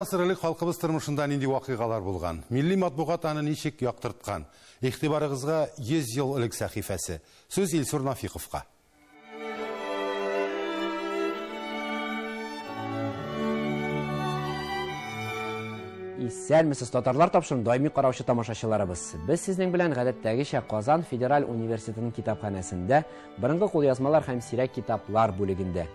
Гасыр элек халкыбыз тормышында нинди вакыйгалар булган? Милли матбугат аны ничек яктырткан? Игътибарыгызга 100 ел элек сәхифәсе. Сүз Илсур Нафиковка. Исәнмесез, татарлар тапшырын даими караучы тамашачыларыбыз. Без сезнең белән гадәттәгечә Казан федераль университетының китапханәсендә, борынгы кулъязмалар һәм сирәк китаплар бүлегендә.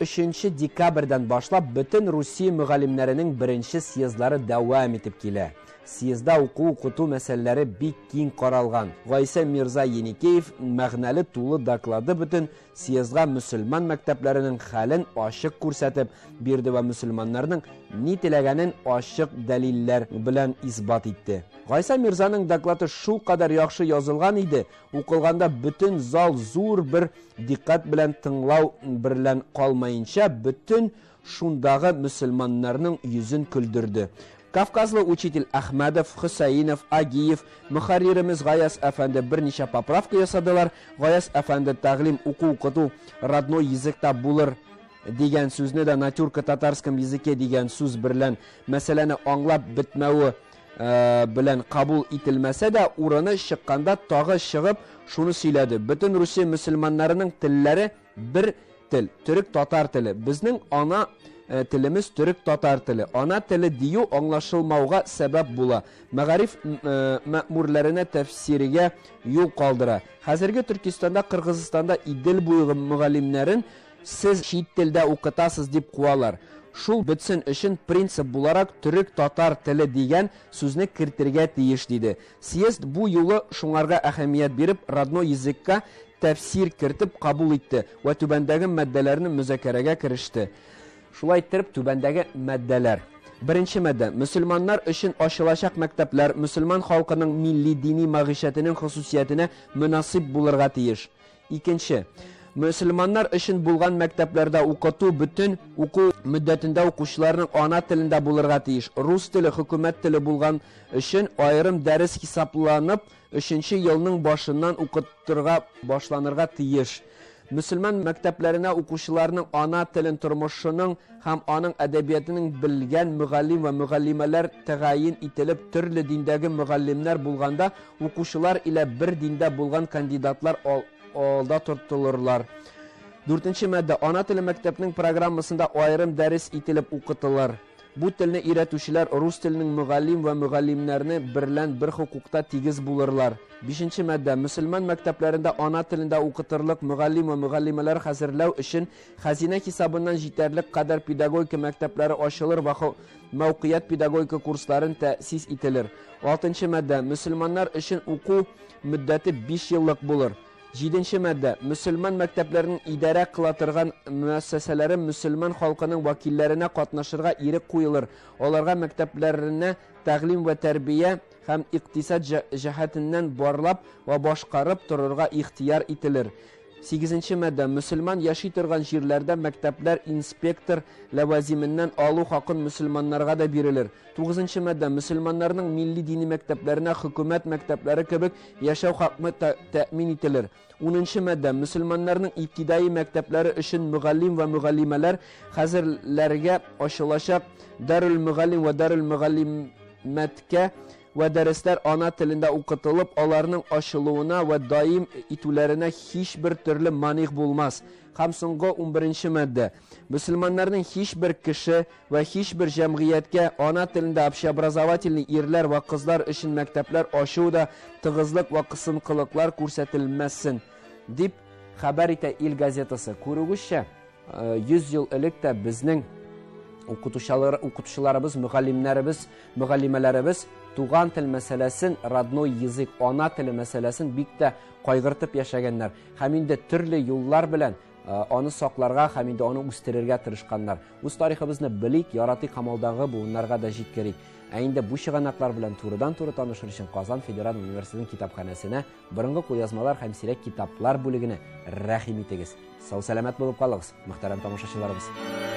Өченче декабрьдән башлап бөтен Русия мөгаллимнәренең беренче съездлары дәвам итеп килә. Съездда уку-укыту мәсьәләләре бик киң каралган. Гайсә мирза Еникеев мәгънәле тулы доклады бөтен съездга мөселман мәктәпләренең хәлен ачык күрсәтеп бирде вә мөселманнарның ни теләгәнен ачык дәлилләр белән исбат итте. Гайсә мирзаның доклаты шулкадәр яхшы язылган иде, Укылганда бөтен зал зур бер диккать белән тыңлау берлән калмаенча, бөтен шундагы мөселманнарның йөзен көлдерде. Кавказлы учитель Әхмәдов, Хөсәинов, Агиев, мөхәрриремез Гаяз әфәнде берничә поправка ясадылар. Гаяз әфәнде тәгълим уку-укыту родной языкта булыр дигән сүзне дә натюрка татарском языке дигән сүз берлән мәсьәләне аңлап бетмәве белән кабул ителмәсә дә, урыны чыкканда тагы чыгып, шуны сөйләде. Бөтен Русия мөселманнарының телләре бер тел, төрек-татар теле. Безнең ана э, телемез төрек-татар теле. Ана теле дию аңлашылмауга сәбәп була. Мәгариф э, мәмурләренә тәфсиргә юл калдыра. Хәзерге Төркистанда, Кыргызстанда Идел буйгы мөгаллимнәрен Сез чит телдә укытасыз дип куалар. Шул бетсен өчен принцип буларак төрек-татар теле дигән сүзне кертергә тиеш, диде. Съезд бу юлы шуңарга әһәмият биреп, родной языкка тәфсир кертеп кабул итте вә түбәндәге маддәләрне мөзакәрәгә кереште. Шулай иттереп, түбәндәге маддәләр. Беренче маддә, мөселманнар өчен ачылачак мәктәпләр мөселман халкының милли-дини мәгыйшәтенең хосусиятенә мөнасыйп булырга тиеш. Икенче. Мөселманнар өчен булган мәктәпләрдә укыту бөтен уку мөддәтендә укучыларның ана телендә булырга тиеш. Рус теле хөкүмәт теле булган өчен аерым дәрес хисапланып, өченче елның башыннан укытырга башланырга тиеш. Мөселман мәктәпләренә укучыларның ана телен тормышының һәм аның әдәбиятының белгән мөгаллим вә мөгаллимәләр тәгаен ителеп, төрле диндәге мөгаллимнәр булганда, Укучылар илә бер диндә булган кандидатлар ал, алда тортылырлар. Дүртенче мадда. Ана теле мәктәпнең программасында аерым дәрес ителеп укытылыр. Бу телне өйрәтүчеләр рус теленең мөгаллим вә мөгаллимнәрне берлән бер хокукта тигез булырлар. Бишенче мадда. Мөселман мәктәпләрендә ана телендә укытырлык мөгаллим вә мөгаллимәләр хәзерләү өчен хәзинә хисабыннан җитәрлек кадәр педагогика мәктәпләре ачылыр вә Мәүкыять педагогика курсларын тәэсис ителер. Алтынчы маддә, мөселманнар өчен уку мөддәте биш еллык булыр. Җиденче маддә, мөселман мәктәпләренең идарә кыла торган мөәссәсәләре мөселман халкының вәкилләренә катнашырга ирек куелыр, аларга мәктәпләренә тәгълим вә тәрбия һәм икътисад җәһәтеннән барлап вә башкарып торырга ихтыяр ителер. Сигезенче маддә. Мөселман яши торган җирләрдә мәктәпләр инспектор ләвазименнән алу хакын мөселманнарга да бирелер. Тугызынчы маддә. Мөселманнарның милли дини мәктәпләренә хөкүмәт мәктәпләре кебек яшәү хакмы та тәэмин ителер. Унынчы маддә. Мөселманнарның ибтидаи мәктәпләре өчен мөгаллим вә мөгаллимәләр хәзер ләргә ачылачак Дарүлмөгаллим вә Дарүлмөгаллимәткә вә дәресләр ана телендә укытылып, аларның ачылуына вә даим итүләренә һичбер төрле маних булмас. Һәм соңгы унберенче маддә. Мөселманнарның һичбер кеше вә һичбер җәмгыятькә ана телендә общеобразовательный ирләр вә кызлар өчен мәктәпләр ачу да тыгызлык вә кысынкылыклар күрсәтелмәссен, дип хәбәр итә Ил газетасы. Күрүегезчә. 100 ел элек тә безнең укытучылар укытучыларыбыз мөгаллимнәребез мөгаллимәләребез туган тел мәсьәләсен родной язык ана теле мәсьәләсен бик тә кайгыртып яшәгәннәр һәм инде төрле юллар белән э, аны сакларга һәм инде аны үстерергә тырышканнар үз тарихыбызны белик яратыйк һәм алдагы буыннарга да җиткерик ә инде бу чыганаклар белән турыдан туры танышыр өчен казан федераль университетының китапханәсенә Борынгы кулъязмалар һәм сирәк китаплар бүлегенә рәхим итегез. Сау-сәламәт булып калыгыз, мөхтәрәм тамашачыларыбыз!